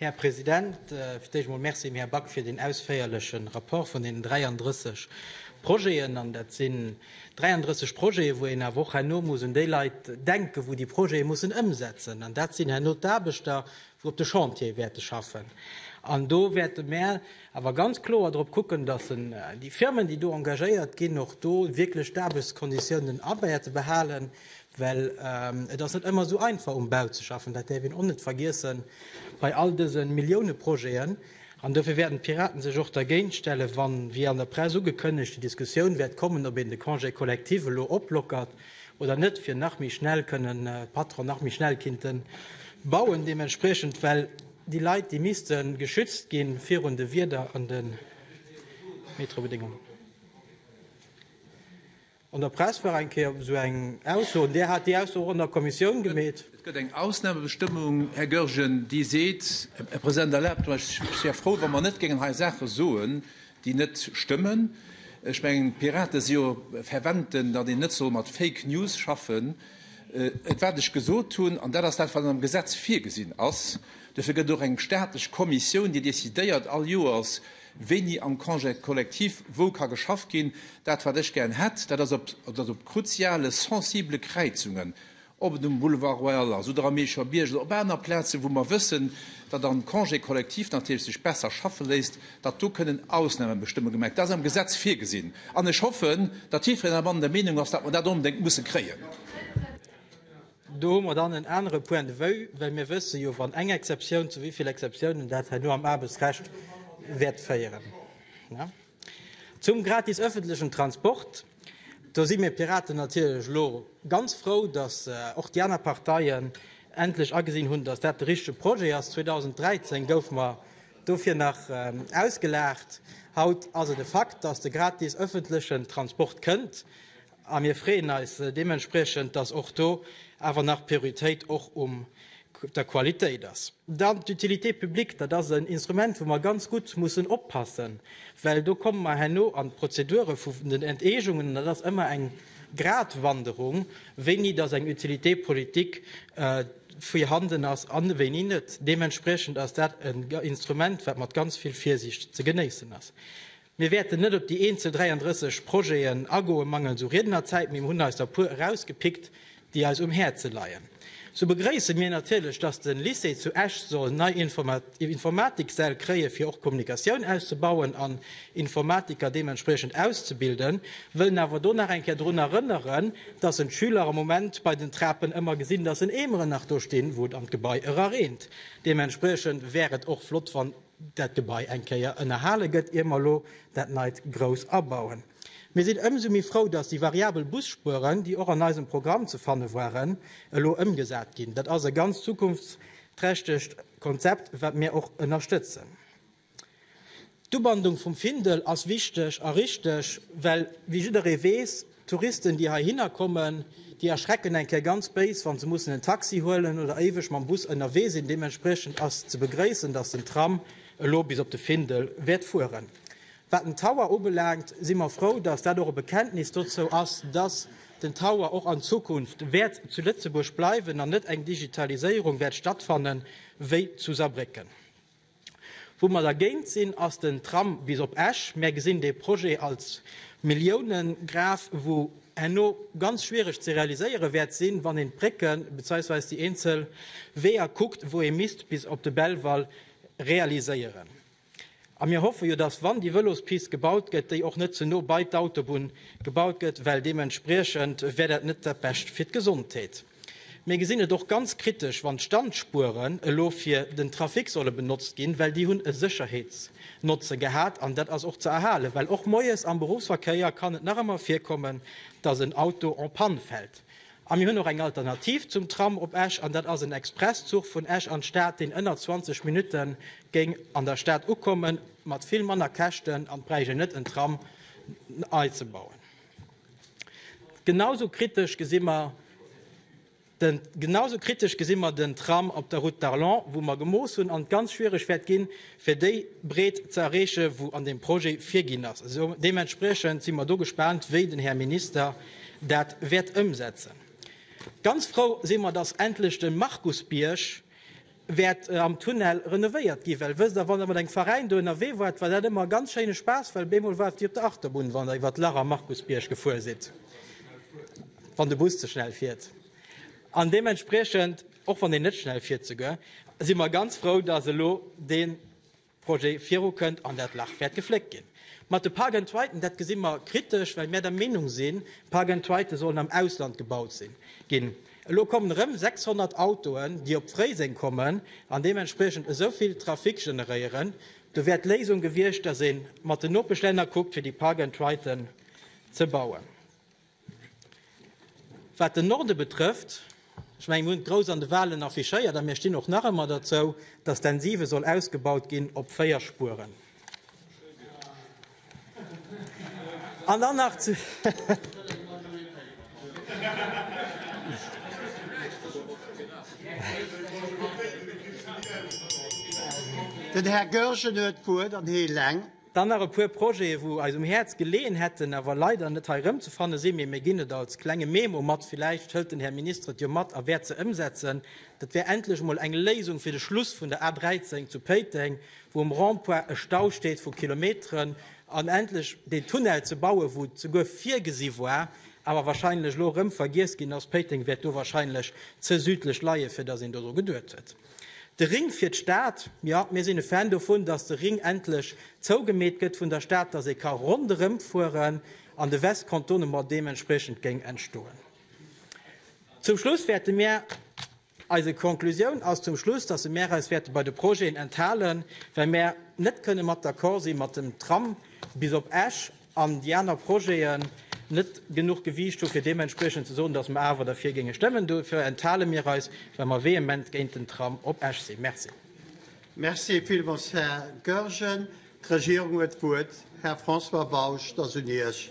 Här President, fir d'éischt emol Merci dem Här Back fir deen ausféierleche Rapport vun deenen 33 Projeten. An dat sinn 33 Projete, wou een awer och herno muss un déi Leit denken, wou déi Projete mussen ëmsetzen. An dat sinn herno d'Aarbechter, wou op de Chantiere wäerte schaffen. An do wäerte mär awer ganz kloer drop kucken, dass déi Firmen, déi do engagéiert ginn, och do wierklech d'Aarbechtskonditiounen abäerte behalen, well et ass net ëmmer esou einfach um Bau ze schaffen, dat däerf een och net vergiessen bei all dëse Milliounepro-jeten. An dofir wäerten d'Piraten sech och dergéintstellen, wann, wéi an der Press ugekënnegt, déi Diskussioun wäert kommen, ob een de Congé collectif elo oplockert oder net, fir nach méi schnell kënnen d'Patronen nach méi schnell kinnten bauen deementspriechend, well, Déi Leit, déi misste geschützt gi virun de Wieder an de Meteobedéngungen. An der Press war eng Kéier esou eng Ausso, an Dir hat déi Ausso och an der Kommissioun gemeet. Et gëtt eng Ausnamebestëmmung, Här Goergen, déi seet, Här President, erlaabt mech, ech wär frou, wa mer net géingen hei Saache soen, déi net stëmmen. Ech mengen, d'Piraten si jo fervent, datt een net soll mat Fake News schaffen. Et wat ech gesot hunn, an dat ass dat, wat am Gesetz virgesinn ass, dofir gëtt och eng staatlech Kommissioun, déi decidéiert all Joers, wéini am Congé collectif wou ka geschafft ginn. Dat, wat ech gären hätt, dat ass, datt op kruziale, sensibele Kräizungen, ob et um Boulevard Royal ass oder am Meecher Bierg oder op aner Plazen, wou mer wëssen, datt am Congé collectif natierlech sech besser schaffe léisst, datt do kënnen Ausnahmebestëmmungen gemaach ginn, dat ass am Gesetz virgesinn, an ech hoffen, datt jiddwereen am Land der Meenung ass, datt mer dat onbedéngt musse kréien. Do hu mer dann en anere Point de vue, well mir wësse jo, wann eng Exceptioun, zu wéi vill Exceptionen dat herno am Aarbechtsrecht wäert féieren. Zum gratis öffentlichen Transport, do si mir Piraten natierlech elo ganz frou, datt och déi aner Parteien endlech agesinn hunn, datt dat de richtige Projet ass. 2013 goufe mer Dofir nach ausgelaacht. Haut ass et e Fakt, dass de gratis ëffentlechen Transport kënnt, a mir freeën eis deementspriechend, dass och do awer nach d'Prioritéit och um der Qualitéit ass. Dann d'Utilité publique, dat ass en Instrument, wou mer ganz gutt mussen oppassen, well do komme mer herno an d'Prozedure vun den Enteegungen, an dat ass ëmmer eng Gratwanderung, wéini dass eng Utilité politique, virhanden ass an wéini net. Deementspriechend ass dat en Instrument, wat mat ganz vill Virsiicht ze genéissen ass. Mir wäerten net op déi eenzel 33 Projeten agoen, mangels u Riednerzäit, mee mir hunn eis der puer erausgepickt, déi eis um Häerze leien. Sou begréisse mir natierlech, dass de Lycée zu Esch soll nei Informatiksäll kréie fir och d'Kommunikatioun auszubauen an Informatiker deementspriechend auszebilden, wëllen awer do nach eng Kéier drun erënneren, dass en d'Schüler am Moment bei den Trapen ëmmer gesinn, dass en Eemeren nach do stinn, wou et an d'Gebai erareent. Deementspriechend wär et och flott, wann dat Gebai eng Kéier ënnerhale gëtt, ier mer elo dat Neit grouss abauen. Mir sinn ëmsou méi frou, dass déi variabel Busspueren, déi och an eisem Programm ze fanne waren, elo ëmgesat ginn. Dat ass e ganz zukunftsträchtegt Konzept, wat mir och ënnerstëtzen. D'Ubandung vum Findel ass wichteg a richteg, well, wéi jidderee weess, d'Touristen, déi heihinner kommen, déi erschrecken eng Kéier ganz béis, wa se mussen en Taxi huelen oder éiweg mam Bus ënnerwee sinn. Deementspriechend ass ze begréissen, dass den Tram elo bis op de Findel wäert fueren. Wat den Tower ubelaangt, si mer frou, dass dat och e Bekenntnis dozou ass, dass den Tower och an Zukunft wäert zu Lëtzebuerg bleiwen an net eng Digitaliséierung wäert stattfannen, wéi zu Saarbrécken. Wou mer dergéint sinn, ass den Tram bis op Esch. Mär gesinn dee Projet als Milliounengraf, wou herno ganz schwiereg ze realiséiere wäert sinn, wann een d'Brécken, bezeiwsweis déi eenzel Weeër kuckt, wou ee misst bis op de Belval realiséieren. A mir hoffe jo, dass, wann déi Vëlospist gebaut gëtt, déi och net ze no bei d'Autobunn gebaut gëtt, well deementspriechend wär dat net dat Bescht fir d'Gesondheet. Mir gesinn et och ganz kritesch, wann d'Standspueren elo fir den Trafic solle benotzt ginn, well déi hunn e Sécherheetsnotze gehat an dat ass och ze erhalen, well och moies am Berufsverkéier kann et nach ëmmer virkommen, dass en Auto en panne fält. A mir hunn och eng Alternativ zum Tram op Esch an dat ass en Expresszuch vun Esch an d'Stad, deen ënner 20 Minutte géing an der Stad ukommen, mat vill manner Käschten an bräicht een net en Tram nei ze bauen. Genausou kritesch gesi mer den Genausou kritesch gesi mer den Tram op der Route d'Arlon, wou mer gemooss hunn an et ganz schwierig wäert ginn, fir déi Breet ze erreechen, wou an deem Projet virginn ass. Esou deementspriechend si mer do gespaant, wéi den Här Minister dat wäert ëmsetzen. Ganz frou si mer, dass endlech de Markusbierg wäert am Tunnel renovéiert ginn, well wësst der, wann der mat engem Veräin do ënnerwee waart, war dat ëmmer e ganz schéine Spaass, well op eemol waart Dir op der Achterbunn, wann der iwwert d'Lach am Markusbierg gefuer sidd, wann de Bus ze schnell fiert an deementspriechend och wann deen net schnell fiert souguer, si mer ganz frou, dass elo deen. Projet virukënnt an dat Lach wäert gefléckt ginn. Mat de Park and Triden, dat gesi mer kritesch, well mär der Meenung sinn, Park and Tride sollen am Ausland gebaut ginn. Elo kommen erëm 600 Autoen, déi op Fréiseng kommen an deementspriechend esou vill Trafic generéieren. Do wär d'Léisung gewiescht, dass ee mat den Nopeschlänner kuckt, fir déi Park and Triden ze bauen. Wat den Norde betrëfft, ech mengen, mir hunn et grouss an de Wahlen affichéiert a mir stinn och nach ëmmer dozou, dass den 7 soll ausgebaut ginn op 4 Spueren. An dann nach zu Den Här Goergen huet d'Wuert an hie eleng. Dann nach e puer Projete wou eis um Häerz geleeën hätten, awer leider net hei erëmzefanne sinn, mee mir ginn et als klenge Memo mat, villäicht hëlt den Här Minister et jo mat a wäert se ëmsetzen, dat wär endlech emol eng Léisung fir de Schluss vun der A 13 zu Péiteng, wou um Rond-point e Stau steet vu Kilometeren, an endlech deen Tunnel ze bauen, wou et souguer virgesi war, awer wahrscheinlech elo erëm vergiess ginn ass. Péiteng wäert do wahrscheinlech ze südlech leien, fir datt een dodru geduet huet. De Ring fir d'Stad, jo, mir sinn e Fan dovun, datt de Ring endlech zougemeet gëtt vun der Stad, datt ee ka ronderëmfueren an de Westkantonen mer deementspriechend géing entstoen. Zum Schluss wäerte mir, eise Konklusioun ass zum Schluss, datt e mir eis wäerte bei de Projeten enthalen, well mir net kënne mat d'accord si mat dem Tram bis op Esch, an déi aner Projeten net genuch Gewiicht hu fir deementspriechend ze soen, datt mer awer derfir géinge stëmmen. Dofir enthale mir eis, well mer vehement géint den Tram op Esch sinn. Merci. Merci villmools, Här Goergen. D'Regierung huet d'Wuert. Här François Bausch, et ass un Iech.